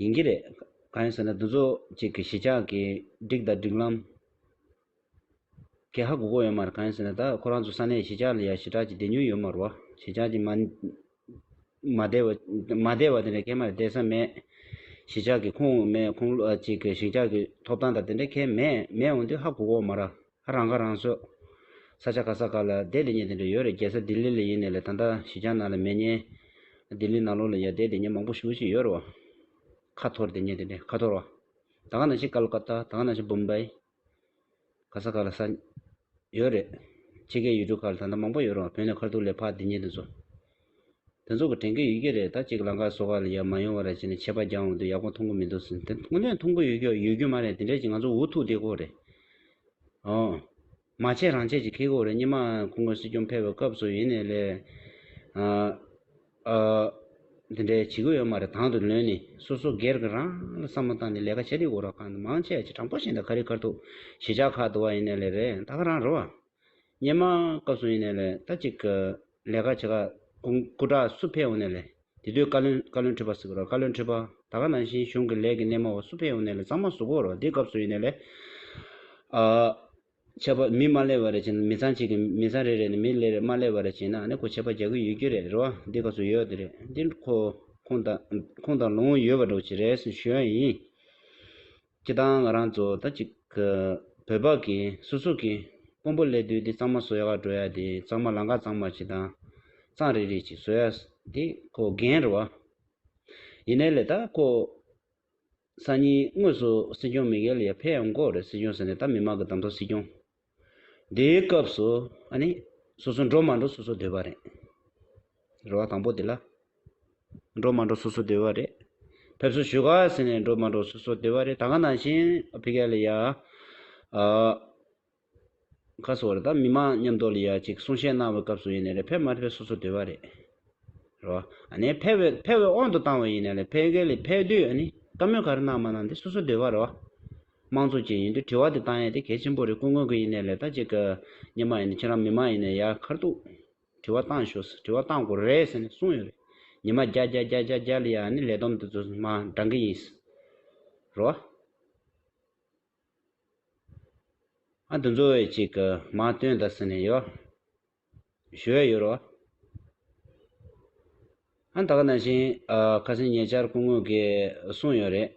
ཡིན་གྱི་རེད། གང་ཡིན་ཟེར་ན་འདི་ཚོ་གཅིག་གི་གཞིས་ཆགས་ཀྱི་སྒྲིག་དང་སྒྲིག་ལམ། གས་ཧ་གོ་གོ་ཡོད་མ་རེད་གང་ཡིན་ཟེར་ན་ད་ཁོ་རང་ཚོ་ས་གནས་གཞིས་ཆགས་ལ་ཡང་ཞི་དྲག་ཀྱི་བདེ་མྱུར་ཡོད་མ་རུ་བ་གཞིས་ཆགས་ཀྱི་མ། མ་བདེ་བ། མ་བདེ་བ་དེ་འདྲ་ཁས་མ་རེད་བདེ་ས་མེད། གཞིས་ཆགས་ཀྱི་ཁུངས་མེད་ཁུངས་ལུགས་ཀྱི་གཞིས་ཆགས་ཀྱི་ཐོབ་ཐང་དང་དེ་འདྲ་ཁས་མེད་མེད་འོང་དུས་ཧ་གོ་གོ་མ་ར། རང་ཁ་རང་གསོ། ས་ཆ་ག་ས་ག་ལ་བསྡད་ལེ་ཉེ་དེ་འདྲ་ཡོད་རེད་རྒྱལ་ས་ལྡི་ལི་ལ་ཡིན་ནས་ལེ་ད་ལྟ་ཞི་ཅང་ནང་ལ་མེད་ཉེ། ལྡི་ལི་ནང་ལོག་ལ་ཡར་བསྡད་དེ་ཉེ་མང་པོ་ཞུ་བཞིན་ཡོད་རོ། ཁ་ཐོར་དེ་ཉེ་དེ་འདྲ་ཁ་ཐོར་བ། ད་ག་ནང་བཞིན་ཀ་ལ་ཀ་ཏ་ད་ག་ནང་བཞིན་བུམ་བཱི། ག་ས་ག་ལ་ས། ཡོད་རེད། ཕྱི་རྒྱལ་ཡུལ་གྲུ་ཁ་ལ་ད་ལྟ་མང་པོ་ཡོད་རོ་བོད་ནས་ཁར་ཐུག་ལེ་ཕག་དེ་ཉེ་དེ་ཚོ། དེ་ཚོ་གི་དྲན་སྐུལ་ཡོད་ཀྱི་རེད་ད་གཅིག་ལང་ཀ་བཟོ་བ་ལ་ཡར་མ་ཡོང་བ་རེད་བྱས་ནས་ཆད་པ་རྒྱག་འོང་དུས་ཡག་པོ་མཐོང་གི་མི་འདུག་ཟེར་དེ་ཁོ་ནས་མཐོང་གི་ཡོད་ཀྱི་ཡོད་རྒྱུ་མ་རེད་དེ་འདྲས་ཀྱི་ང་ཚོ་འུ་ཐུག་དེ་ཁོ་རེད། འོང། མ་བྱས་རང་བྱས་ཀྱི་ཁེ་ཁོ་རེད་སྙེ་མ་ཁོ་ངོས་སྲིད་སྐྱོང་ཕེབས་པའི་སྐབས་སུ་ཡིན་ནས་ལས། ཨ། ཨ། དེ་འདྲས་བྱེད་ཀྱི་ཡོད་མ་རེད་དང་དུ་ལོན་ནས་སོ་སོ་སྒེར་གྱི་རང་ལ་བསམ་བློ་བཏང་ནས་ལས་ཀ་བྱས་དེ་ཁོ་ར་ཁ་ནས་མང་ཆེ་བ་ཆེ་དྲང་པོ་བྱས་ནས་ཁ་རི་ཁར་ཐུག་གཞིས་ཆགས་ཁག་དུ་བ་ཡིན་ནས་ལས་རེད་ད་ཁ་རང་རེད་བ། ཉེ་མ་སྐབས་སུ་ཡིན་ནས་ལས་ད་ཅིག་གི་ལས་ཀ་བྱེད་ཁ་སྐུ་སྐུ་དྲག་སུ་ཕེ་ཡོང་ནས་ལས་དེ་དུས་བཀའ་བློན་བཀའ་བློན་ཁྲི་པ་སི་གི་རོ་བཀའ་བློན་ཁྲི་པ་ད་ག་ནང་བཞིན་གཞུང་གི་ལས་ཀྱི་སྣེ་མོ་བ་སུ་ཕེ་ཡོང་ནས་ལས་ཚང་མ་ཟུག་གོ་རོ་དེ་སྐབས་སུ་ཡིན་ནས་ལས་ཨ། ཆད་པ་མི་མ་ལས་བ་རེ་བྱེད་ན་མི་ཚང་གཅིག་གི་མི་ཚང་རེ་རེ་ནས་མི་ལས་རེ་མ་ལས་བ་རེ་བྱེད་ན་ནི་ཁོ་ཆད་པ་རྒྱག་གི་ཡོད་ཀྱི་རེད་རེད་བ་དེ་སྐབས་སུ་ཡོད་དེ་རེད་དེ་ཁོ་ཁོང་དང་ཁོང་དང་ལོང་ཡོད་བ་འགྲོ་བྱེད་རེས་ཞུ་ཡ་ཡིན། ཁྱེད་རང་ང་རང་ཚོ་ད་ཅིག་བོད་པ་གི་སོ་སོ་གི་དཔོན་པོ་ལས་དུས་དེ་གཙང་མ་བཟོ་ཡག་འགྲོ་ཡག་དེ་གཙང་མ་ལང་ཀ་གཙང་མ་ཆེ་དང་གཙང་རིག་རིག་ཅིག་བཟོ་ཡག་དེ་ཁོ་རྒན་རུ་བ་ཡིན་ནའི་ལས་ད་ཁོ་སང་ཉིན་དངོས་སུ་སྲིད་སྐྱོང་མི་གལ་ཡ་ཕེ་ཡང་འགོ་རེད་སྲིད་སྐྱོང་ཟེར་ནས་ད་མི་མང་གི་དམ་ཐོག་སྲིད་སྐྱོང། དེའི་སྐབས་སུ་ཨ་ནི། སོ་སོ་འགྲོ་མ་འགྲོ་སོ་སོ་འདོད་པ་རེད། རེ་བ་དང་པོ་དེ་ལ། འགྲོ་མ་འགྲོ་སོ་སོ་འདོད་པ་རེད། ཕེབས་བསུ་ཞུ་ག་ཟེར་ནས་འགྲོ་མ་འགྲོ་སོ་སོ་འདོད་པ་རེད་ད་ག་ནང་བཞིན་ཕི་ག་ལི་ཡ། ཁ་སོ་རེ་ད་མི་མང་མཉམ་འདོག་ལི་ཡ་ཅིག་གསུང་བཤད་གནང་བའི་སྐབས་སུ་ཡིན་ནི་རེད་ཕེབས་མ་ཕེབས་སོ་སོ་འདོད་པ་རེད། རེ་བ་ཨ་ནི། ཕེབས་བས་ཕེབས་བས་དབང་དུ་བཏང་བས་ཡིན་ནི་རེད་ཕི་ག་ལི་ཕེབས་དུས་ཨ་ནི་བཀའ་མོལ་ག་རེ་གནང་མ་གནང་དེ་སོ་སོ་འདོད་པ་རེད། དམངས་གཙོ་བཅས་ཡིན་དུས་དྲི་བ་འདི་བཏང་ཡས་དེ་གལ་ཆེན་པོ་རེད་སྐུ་མགོན་གི་ཡིན་ནའི་ལས་ད་ཅིག་གི་ཉིན་མ་ཡིན་ནའི་ཁྱེད་རང་མི་མང་ཡིན་ནའི་ཡ་མཁར་དུག་དྲི་བ་བཏང་ཞོགས་ཟེར་དྲི་བ་བཏང་དགོས་རེད་ཟེར་ནས་གསུངས་ཡོད་རེད་ཉི་མ་རྒྱ་རྒྱ་རྒྱ་རྒྱ་རྒྱ་ལི་ཡ་ནི་ལས་བསྡོམས་དེ་ཚོ་མ་འདྲང་གི་ཡིན་ཟེར་རོ། ཨ་འདི་ཚོ་བས་ཅིག་གི་མ་བཏོན་ད་ཟེར་ནས་ཡོ་ཞུ་ཡས་ཡོད་རོ། ཨ་ད་ག་ནང་བཞིན་ཁ་སེང་ཉེ་ཆར་སྐུ་མགོན་གིས་གསུངས་ཡོད་རེད།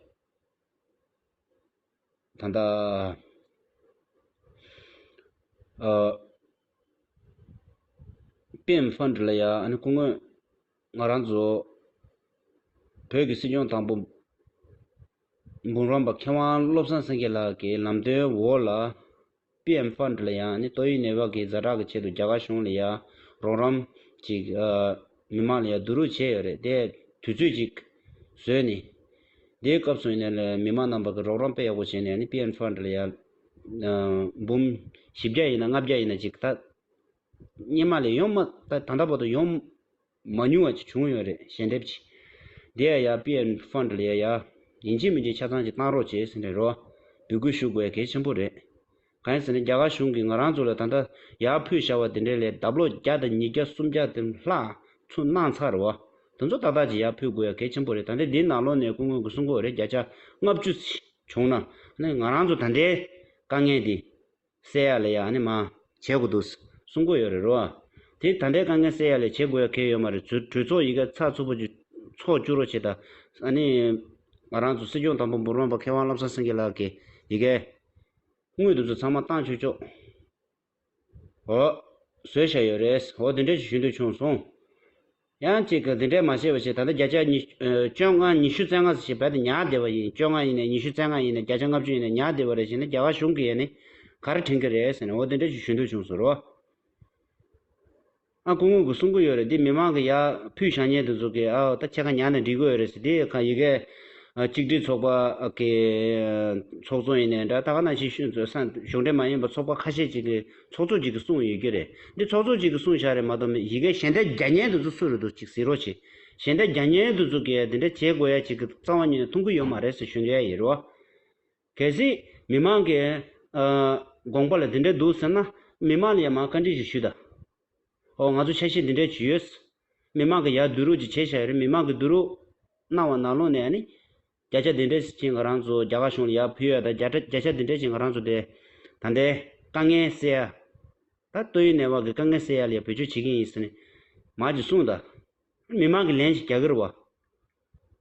ད་ལྟ། པེ་ཨེམ་ཧྥན་ཀྲི་ལ་ཡ་ཨན་སྐུ་དངོས། ང་རང་ཚོ། བོད་ཀྱི་སྲིད་སྐྱོང་དང་པོ། འབུམ་རམས་པ་མཁས་དབང་བློ་བཟང་སེང་གེ་ལགས་ཀྱི་ལམ་སྟོན་འོག་ལ། པི་ཨེམ་ཧྥ་འདྲི་ལ་ཡང་ནི་ཏོག་དབྱིབས་ནད་བག་གིས་རྫ་དྲག་གི་ཆེད་དུ་རྒྱ་གར་གཞུང་ལ་ཡང། རོགས་རམ། ཅིག། མི་མང་ལ་ཡང་བསྡུ་རུག་བྱས་ཡོད་རེད་དེ། དུས་ཚོད་ཅིག། བཟོས་ནས། དེའི་སྐབས་སུ་ཡང་ནི་མི་མང་རྣམས་པ་གི་རོགས་རམ་དཔེ་ཡག་པོ་བྱས་ནས་ཡང་ནི་པི་ཨེམ་ཧྥ་འདྲི་ལ་ཡང། འབུམ། བཞི་བརྒྱ་ཡིན་ན་ལྔ་བརྒྱ་ཡིན་ན་ཅིག་ད། སྙེ་མ་ལས་ཡོང། ད་ད་ལྟ་བར་དུ་ཡོང། མ་ཉུང་བ་ཅིག་བྱུང་ཡོད་རེད་ཞལ་འདེབས་ཀྱིས། འདི་ཡ་ཡ་པི་ཨན་ཧྥ་འདྲི་ལ་ཡ་ཡ། ཡིན་གཅིག་མིན་གཅིག་ཆ་ཚང་གཅིག་བཏང་རོགས་བྱས་ཟེར་ནས་རོ། འབུལ་སྐུལ་ཞུ་དགོས་གལ་ཆེན་པོ་རེད། གང་ཡིན་ཟེར་ན་རྒྱ་གར་གཞུང་གིས་ང་རང་ཚོ་ལ་ད་ལྟ་ཡ་ཕུད་བྱ་བ་དེ་འདྲའི་ལས་ལྡབ་ལོ་བརྒྱ་དང་ཉིས་བརྒྱ་སུམ་བརྒྱ་དེ་ལྷག་ཚུན་གནང་ཚར་རེད་བ། དེ་ཚོ་ཏག་ཏག་ཅིག་ཡ་ཕུད་དགོས་ཡ་གལ་ཆེན་པོ་རེད་ད་ལྟ་འདིའི་ནང་ལོ་ནས་སྐུ་ངོས་ཀྱི་སྲུང་འཁོར་རེ་བརྒྱ་ཆ་ལྔ་བཅུ་བྱུང་ན། ང་རང་ཚོ་ད་ལྟའི་དཀའ་ངལ་འདི་བསལ་ཡ་ལས་ཡ་ནི་མ། བྱེད་དགོས་འདུག། གསུང་གོ་ཡོད་རེད་རོ། དེ་ད་འདྲའི་དཀའ་ངལ་བསལ་ཡ་ལས་བྱེད་དགོས་ཡ་ཁེལ་ཡོད་མ་རེད་ཚོས་གྲོས་ཚོགས་ཡི་གེ་ཚགས་ཚུད་པོ་བཅུ། ཚོགས་བཅུ་རོ་བྱེད་ད། ཨ་ནི། ང་རང་ཚོ་སྲིད་སྐྱོང་དང་པོ་འབུར་མ་པ་མཁས་དབང་བློ་བཟང་སེང་གེ་ལགས་ཀྱིས་ཡི་གེ། དངུལ་དེ་ཚོ་ཚང་མ་བཏང་ཆོད་ཆོག། འོ། བཟོས་བཞག་ཡོད་རེད། འོ་དེ་འདྲའི་ཞིག་ཞུ་འདོད་བྱུང་སོང། ཡང་གཅིག་གིས་འདི་འདྲའི་མ་བྱས་པ་ཞིག་ད་ལྟ་བརྒྱ་ཆ། བཅོ་ལྔ་ཉི་ཤུ་རྩེ་ལྔ་ཟེར་ཞིག་རྦད་དེ་ཉག་བདེ་བ་ཡིན་བཅོ་ལྔ་ཡིན་ནས་ཉི་ཤུ་རྩེ་ལྔ་ཡིན་ནས་བརྒྱ་ཆ་ལྔ་བཅུ་ཡིན་ནས་ཉག་བདེ་བ་རེད་ཞེས་ན་རྒྱ་གར་གཞུང་གིས་ཡས་ནས་ག་རེ་དྲན་གྱི་རེད་ཟེར་ནས་འོ་དེ་འདྲ་ཞིག་ཞུ་འདོད་བྱུང་ཟེར་རོ། ཨ་སྐུ་དངུལ་གྱི་གསུང་གི་ཡོད་རེད་འདི་མི་མང་གི་ཡ། ཕུད་ཞང་ཉན་དུ་འཛུགས་ཀྱི་ཨའོ་ད་ཁྱེད་ག་ཉག་ནས་འབྲི་དགོས་ཡོད་རེད་ཟེར་དེའི་ཁ་ཡི་གེ། གཅིག་སྒྲིལ་ཚོགས་པ་གི་ཚོགས་གཙོ་ཡིན་ནས་འདྲ་ད་ག་ནང་ཞིག་ཤོད་ཟེར་ས་གཞུང་འབྲེལ་མ་ཡིན་པ་ཚོགས་པ་ཁ་ཤས་ཅིག་གིས། ཚོགས་གཙོ་གཅིག་གི་གསུང་ཡོད་རྒྱུ་རེད། འདི་ཚོགས་གཙོ་གཅིག་གི་གསུང་བཞག་རེད་མ་གཏོགས་མེད་ཡི་གེ་གཞན་འདྲ་རྒྱ་སྙན་དུ་འཛུགས་སུ་རུ་འདུག་ཅིག་ཟིག་རོགས་ཅིག། གཞན་འདྲ་རྒྱ་སྙན་དུ་འཛུགས་གི་འདི་འདྲ་བྱེད་དགོས་ཡ་ཅིག་གི་གཙང་བ་ཉིད་ནས་ཐུང་གི་ཡོད་མ་རེད་ཟེར་ཞུ་འདོད་ཡ་ཡི་རོ། གལ་སྲིད། མི་མང་གི། དགོངས་པ་ལ་འདི་འདྲ་འདུག་ཟེར་ན། མི་མང་ལ་ཡ་མང་བཀའ་འདྲི་ཞིག་ཞུ་ད། ཨོ་ང་ཚོ་ཆ་ཤས་འདི་འདྲ་བྱུས་ཡོད། མི་མང་གི་ཡ་བསྡུ་རུག་ཅིག་བྱས་བཞག་ཡོད་རེད་མི་མང་གི་བསྡུ་རུག། གནང་བ་ནང་ལོགས་ནས་ཨ་ནི། བརྒྱ་ཆ་འདི་འདྲའི་ཞིག་ང་རང་ཚོ་རྒྱ་གར་གཞུང་ལ་ཡར་ཕུལ་ཡོད་ད། བརྒྱ་ཆ་འདི་འདྲའི་ཞིག་ང་རང་ཚོ་དེ། ད་ལྟའི་དཀའ་ངལ་སེལ་ཡ། ད་ལྟོ་ཡུན་ནས་བ་གི་དཀའ་ངལ་སེལ་ཡ་ལས་བེད་སྤྱོད་བྱེད་ཀྱིན་ཡིན་ཟེར་ནས། མར་གྱིས་གསུངས་ད། མི་མང་གི་ལན་ཞིག་རྒྱ་གིར་བ།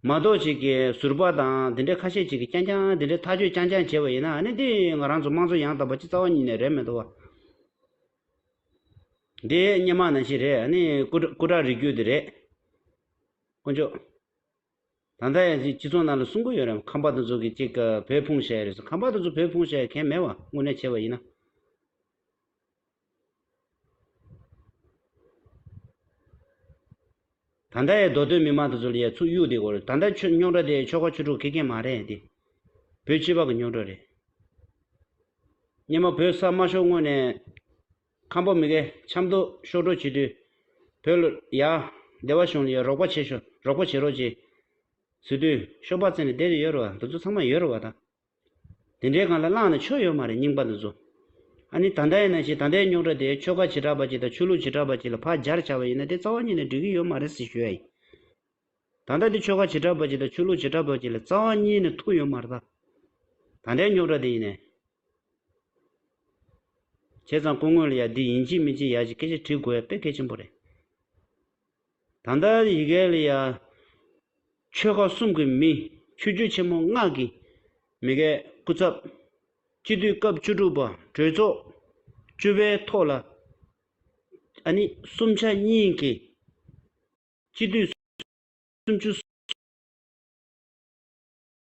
མ་གཏོགས་ཅིག་གི་ཟུར་པ་དང་དེ་འདྲའི་ཁ་ཤས་ཅིག་གིས་རྐྱང་རྐྱང་དེ་འདྲའི་ཐག་གཅོད་རྐྱང་རྐྱང་བྱས་བ་ཡིན་ན་ནི་འདི་ང་རང་ཚོ་དམངས་གཙོ་ཡང་དག་པ་སྤྱི་རྩ་བ་ཉིད་ནས་རེད་མེད་དོ། འདི་སྙན་མང་ནང་བཞིན་རེད་ནི་སྐུ་དྲག་རིགས་རྒྱུད་འདི་རེད། དཀོན་མཆོག། ད་ལྟ་ཡང་སྤྱི་ཚོགས་ནང་ལ་སྲུང་མཁོ་ཡོད་རེད་ཁམས་པ་དོན་གཙོ་གིས་ཅིག་བོད་ཕུང་བཤའི་རེད་ཁམས་པ་དོན་གཙོ་བོད་ཕུང་བཤའི་གན་མེད་བ་དངོས་གནས་བྱས་བ་ཡིན་ན། ད་ལྟ་ཡའི་མདོ་སྟོད་མི་མང་དོན་གཙོ་ལ་ཡའི་ཚུགས་གཡུག་དེ་གོ་རེད་ད་ལྟ་ཆོས་རྙོག་དྲ་དེ་ཆོལ་ཁ་ཆོས་དྲུག་གི་གན་མ་རེད་དེ། བོད་སྤྱི་པ་གི་རྙོག་དྲ་རེད། སྙེ་མ་བོད་ས་དམར་ཤོག་དངོས་ནས། ཁམས་པོ་མི་གའི་ཆབ་མདོ་ཤོག་གྲོལ་བྱེད་དུས། བོད་ལ་ཡ། སྡེ་བ་གཞུང་ལ་ཡ་རོགས་པ་བྱེད་ཤོག་རོགས་པ་བྱེད་རོགས་ཅེས། ཟེར་དུས་ཤོག་པ་བཙལ་ནས་སྡེ་རེ་ཡོད་རེ་བ་འདི་ཚོ་ཚང་མ་ཡོད་རེ་བ་དང། དེ་འདྲའི་གང་ལ་བླངས་ནས་ཆོ་ཡོད་མ་རེད་རྙིང་པ་འདི་ཚོ། ཨ་ནི་ད་ལྟ་ཡིན་ན་ཞིག་ད་ལྟའི་རྙོག་དྲ་དེ་ཆོལ་ཁ་བྱེ་བྲག་པ་གཅིག་དང་ཆོས་ལུགས་བྱེ་བྲག་པ་གཅིག་ལ་བག་སྦྱར་བྱ་བ་ཡིན་ན་དེ་རྩ་བ་ཉིད་ནས་འགྲིག་གི་ཡོད་མ་རེད་ཟེར་ཞོད་ཡ་ཡིན། ད་ལྟ་འདི་ཆོལ་ཁ་བྱེ་བྲག་པ་གཅིག་དང་ཆོས་ལུགས་བྱེ་བྲག་པ་གཅིག་ལ་རྩ་བ་གཉིས་ནི་ཐུག་ཡོད་མ་རེད་ད། ད་ལྟའི་རྙོག་དྲ་དེ་ཡིན་ནས། བྱས་ཙང་སྐུ་དངོས་ལ་ཡང་འདི་ཡིན་ཅི་མིན་ཅི་ཡག་ཅི་སྐད་ཅིག་བྲིས་དགོས་ཡ་དཔེ་གལ་ཆེན་པོ་རེད། ད་ལྟ་ཡི་གེ་ལ་ཡང། ཆོལ་ཁ་གསུམ་གྱི་མི་ཆོས་བརྒྱུད་ཆེན་མོ་ལྔ་གི་མི་སྐད་སྐུ་ཚབ། སྤྱི་འཐུས་སྐབས་བཅུ་དྲུག་པ་གྲོས་ཚོགས་བཅུ་པའི་ཐོག་ལ། ཨ་ནི་གསུམ་ཆ་གཉིས་ཀྱི། སྤྱི་འཐུས་སུམ་ཅུ་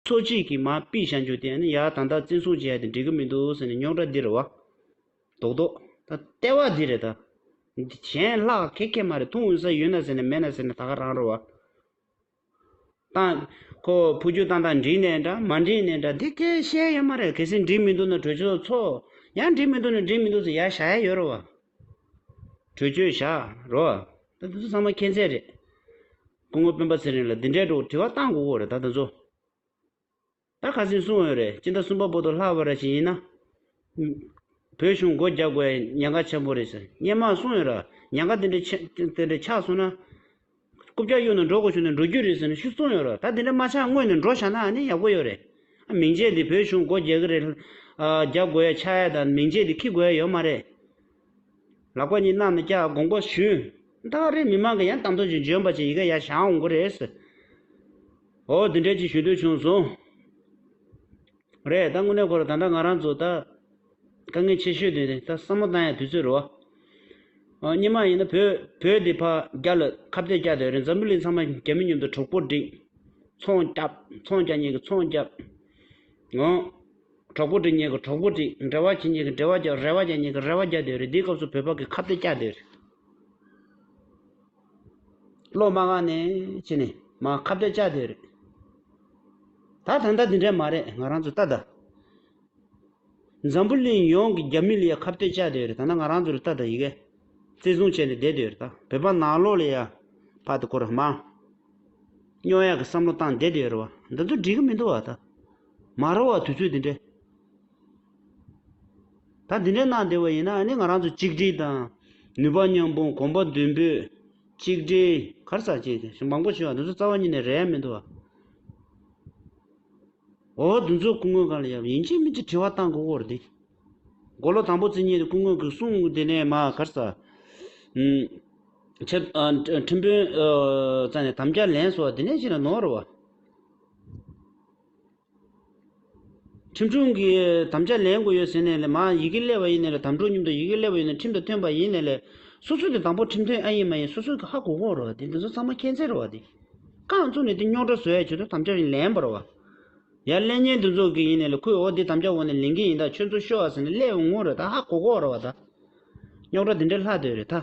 སོ་གཅིག་གིས་མ་དཔེ་བཞག་འཇུག་དེ་ཡང་ད་ལྟ་བཙན་བཟུང་བྱས་ཏེ་འགྲིག་གི་མི་འདུག་ཟེར་ནས་རྙོག་དྲ་འདི་རུ་བ་རྡོག་རྡོག་ད་ལྟ་བ་འདི་རེད་ད། གཞན་ལྷག་ཁེ་ཁེ་མ་རེད་ཐུང་འོས་ས་ཡོད་ན་ཟེར་ནས་མེད་ན་ཟེར་ནས་ད་ག་རང་རུ་བ། ཁོ་བོ་རྒྱུ་ཏང་དང་འགྲིག་ནས་འདྲ་མ་འགྲིག་ནས་འདྲ་དེ་ཁས་བཤད་ཡོད་མ་རེད་གལ་སྲིད་འགྲིག་མི་འདུག་ན་གྲོས་ཆོད་ཚོགས། ཡང་འགྲིག་མི་འདུག་ན་འགྲིག་མི་འདུག་ཟེར་ཡ་བཞག་ཡ་ཡོད་རུ་བ། གྲོས་ཆོད་བཞག་རོགས། ད་དེ་ཚོ་ཚང་མ་མཁྱེན་ཚད་རེད། སྐུ་ངོ་སྤེན་པ་ཚེ་རིང་ལ་འདི་འདྲའི་སྒྲོག་དྲི་བ་གཏང་དགོས་དགོས་རེད་ད་དེ་ཚོ། ད་ཁ་སིང་སུང་འོས་རེད་སྤྱི་ཟླ་གསུམ་པ་པོ་ཏོ་ལྷག་བར་ར་བཞིན་ཡིན་ན། བོད་གཞུང་སྒོ་རྒྱབ་དགོས་ཡ་ཉེན་ཁ་ཆེན་པོ་རེད་ཟེར་སྙན་མ་གསུང་འོས་ར་ཉེན་ཁ་དེ་འདྲའི་ཆེ་དེ་འདྲའི་ཆགས་སོང་ན། རྐུབ་བཀྱག་གཡུག་ནས་འགྲོ་དགོས་བྱུང་ན་འགྲོ་རྒྱུ་རེད་ཟེར་ནས་ཤུགས་བཙོང་ཡོད་རེད་ད་དེ་འདྲ་མ་ཆགས་སྔོན་ནས་འགྲོ་བཞག་ན་ནི་ཡག་པོ་ཡོད་རེད། མིང་ཆད་འདི་བོད་གཞུང་སྒོ་རྒྱག་གི་རེད། རྒྱག་དགོས་ཡ་ཆགས་ཡ་དང་མིང་ཆད་འདི་ཁི་དགོས་ཡ་ཡོད་མ་རེད། ལག་པ་གཉིས་གནང་ནས་སྐྱག་དགོངས་པ་ཞུས། ད་རེས་མི་མང་གི་ཡང་དང་དོད་ཅིག་འཇོན་པ་ཅིག་ཡི་ག་ཡ་བཞག་འོང་དགོས་རེད། འོ་དེ་འདྲ་ཅིག་ཞུ་འདོད་བྱུང་སོང། རེད་ད་དངོས་གནས་ཁོ་རང་ད་འདྲ་ང་རང་ཚོ་ད། དཀའ་ངལ་ཆེ་ཤོས་དེ་ད་བསམ་བློ་བཏང་ཡ་དུས་ཚོད་རེད་བ། གཉིས་མ་ཡིན་ན་བོད་བོད་འདི་ཕ་རྒྱ་ལ་ཁ་བཏད་བསྐྱ་དེ་རེད་འཛམ་བུ་གླིང་ཚང་མ་རྒྱ་མི་མཉམ་དུ་གྲོགས་པོ་བསྒྲིག། ཚོང་བསྐྱབ་ཚོང་བསྐྱ་གཉིས་ཀྱི་ཚོང་བསྐྱབ། འོང། གྲོགས་པོ་བསྒྲིག་གཉིས་ཀྱི་གྲོགས་པོ་བསྒྲིག་འབྲེལ་བ་བྱེད་གཉིས་ཀྱི་འབྲེལ་བ་བྱ་རེ་བ་བྱ་གཉིས་ཀྱི་རེ་བ་བྱ་དེ་རེད་འདིའི་སྐབས་སུ་བོད་པ་གི་ཁ་བཏད་བསྐྱ་དེ་རེད། སློབ་མ་ང་ནི་ཅི་ནས་མ་ཁ་བརྡ་བཅའ་དེ་རེད། ད་ད་ལྟ་དེ་འདྲ་མ་རེད་ང་རང་ཚོ་ལྟ་ད། འཛམ་བུ་གླིང་ཡོངས་ཀྱི་རྒྱ་མི་ལ་ཡ་ཁ་བརྡ་བཅའ་དེ་རེད་ད་ང་རང་ཚོ་ལ་ལྟ་ད་ཡི་གེ་བརྩི་སྲུང་བྱས་ནས་བསྡད་དེ་རེད་ད་བོད་པ་ནག་ལོག་ལ་ཡ་ཕ་ད་ཁོ་རང་མང་རྙོག་ཡ་གི་བསམ་བློ་བཏང་བསྡད་དེ་རེད་བ་འདི་ཚོ་འགྲིག་གི་མི་འདུག་བ་ད། མ་རེད་བ་དུས་ཚོད་དེ་འདྲ། ད་འདི་འདྲའི་གནང་བདེ་བ་ཡིན་ན་ནི་ང་རང་ཚོ་གཅིག་སྒྲིལ་དང། ནུས་པ་མཉམ་སྤུངས་གོམ་པ་མདུན་སྤོས། གཅིག་སྒྲིལ། གར་ཟ་བྱེད། ཞེས་མང་པོ་ཞུས་ཡང་འདི་ཚོ་རྩ་བ་ཉིད་ནས་རེད་ཡ་མི་འདུག་ཨ། འོ་འདི་ཚོ་སྐུ་དངོས་གང་ལ་ཡབ་ཡིན་གཅིག་མིན་གཅིག་དྲི་བ་བཏང་དགོས་སྐོར་འདི། མགོ་ལོག་དང་པོ་རྩིས་གཉིས་དེ་སྐུ་དངོས་གིས་གསུངས་དེ་ནས་མ་གར་ཟ། ཁྲི། ཁྲི་དཔོན། རྩ་ནས་དམ་བཅའ་ལེན་སོགས་དེ་ནས་ཕྱི་ལ་ནོར་བ། ཁྲིམས་སྒྲུང་གི་དམ་བཅའ་ལེན་དགོས་ཡོད་ཟེར་ནས་ལས་མ་ཡི་གེ་ཀླད་པ་ཡིན་ནས་ལས་དམ་སྒྲུང་སྙིང་དང་ཡི་གེ་ཀླད་པ་ཡོད་ནས་ཁྲིམས་དང་མཐུན་པ་ཡིན་ནས་ལས། སོ་སོས་དེ་དང་པོ་ཁྲིམས་མཐུན་ཨ་ཡིན་མ་ཡིན་སོ་སོའི་གི་ཧ་གོ་གོ་རོ་བ་དེ་འདི་ཚོ་ཚང་མ་མཁྱེན་བརྩེ་རོ་བ་དེ། རྐང་བཙུགས་ནས་དེ་རྙོག་དྲ་བཟོ་ཡ་བྱོས་དོ་དམ་བཅའ་རིང་ལེན་པ་རོ་བ། ཡར་ཀླད་ཉལ་འདུག་འཛོག་གི་ཡིན་ནས་ལས་ཁོས་འོ་དེ་དམ་བཅའ་འོག་ནས་ལེན་གི་ཡིན་ད་ཁྱོད་ཚོ་ཤོ་ཨ་ཟེར་ནས་ཀླད་པའི་ངོ་རེ་ད་ཧ་གོ་གོ་རོ་བ་ད། རྙོག་དྲ་དེ་འདྲས་ལྷག་འདོད་རེད་ད།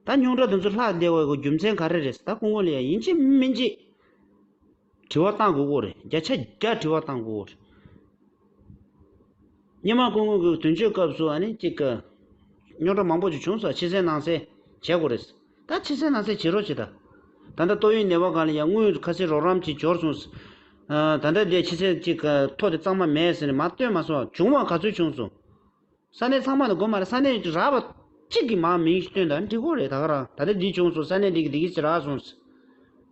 ད་རྙོག་དྲ་དེ་ཚོ་ལྷག་བདེ་བའི་རྒྱུ་མཚན་ག་རེ་རེད་ཟེར་ད་སྐུ་ངོ་ལས་ཡ་ཡིན་གཅིག་མིན་གཅིག། དྲི་བ་གཏང་དགོས་རེད་བརྒྱ་ཆ་བརྒྱ་དྲི་བ་གཏང་དགོས་རེད། སྙེ་མ་ཀུན་ཀུན་གྱི་དོན་གཅོད་སྐབས་སུ་ཨ་ནི་གཅིག་གི། རྙོག་དྲ་མང་པོ་ཅིག་བྱུང་ས་ཕྱི་གསལ་ནང་གསལ་བྱེད་དགོས་རེད། ད་ཕྱི་གསལ་ནང་གསལ་བྱེད་རོགས་བྱེད་དང། ད་ལྟ་ཏོག་དབྱིབས་ནད་པ་གང་ལ་ཡང་དངུལ་ཁ་སེར་རོགས་རམ་གྱི་འབྱོར་སོང། ད་ལྟ་འདི་ཕྱི་གསལ་གཅིག་ཐོག་དེ་གཙང་མ་མེད་ཟེར་ནས་མ་བསྟོད་མ་སོགས་བྱུང་བ་ག་ཚོད་བྱུང་སོང། ས་གནས་ཚང་མ་དང་དགོན་མ་རེད་ས་གནས་རགས་པ་གཅིག་གི་མང་མིང་སྟོན་ད་འགྲིག་གོ་རེད་ད་ག་རང་ད་ལྟ་འདི་བྱུང་སོང་ས་གནས་འདི་གི་འདི་གི་ཟེར་རགས་སོང་ཟེར་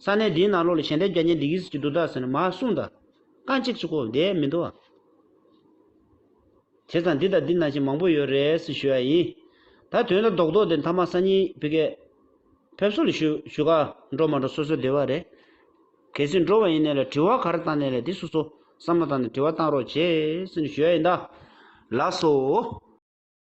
ས་གནས་འདིའི་ནང་ལོགས་ལ་ཞལ་འདེབས་རྒྱ་ཉེ་འདི་གིས་ཀྱི་འདུག་ད་ཟེར་ན་མ་གསུང་ད་རྐང་གཅིག་གཅིག་གོ་བསྡད་མི་འདུག་བྱས་ཙང་འདི་དང་འདི་ནང་བཞིན་མང་པོ་ཡོད་རེད་ཟེར་ཞུས་ཡ་ཡིན་ད་དོན་དང་རྡོག་རྡོག་དེ་མཐའ་མ་སང་ཉིན་བི་ཀའི་ཕེབས་བསུ་ལ་ཞུ་ཞུ་ག་འགྲོ་མ་འགྲོ་སོ་སོའི་བདེ་བ་རེད། གལ་སྲིད་འགྲོ་བ་ཡིན་ནས་ལ་དྲི་བ་གར་བཏང་ནས་ལ་དེ་སུ་སོ་བསམ་བློ་བཏང་ནས་དྲི་བ་བཏང་རོགས་བྱས་སུ་ནི་ཞུ་ཡ་ཡིན་ད་ལགས་སོ།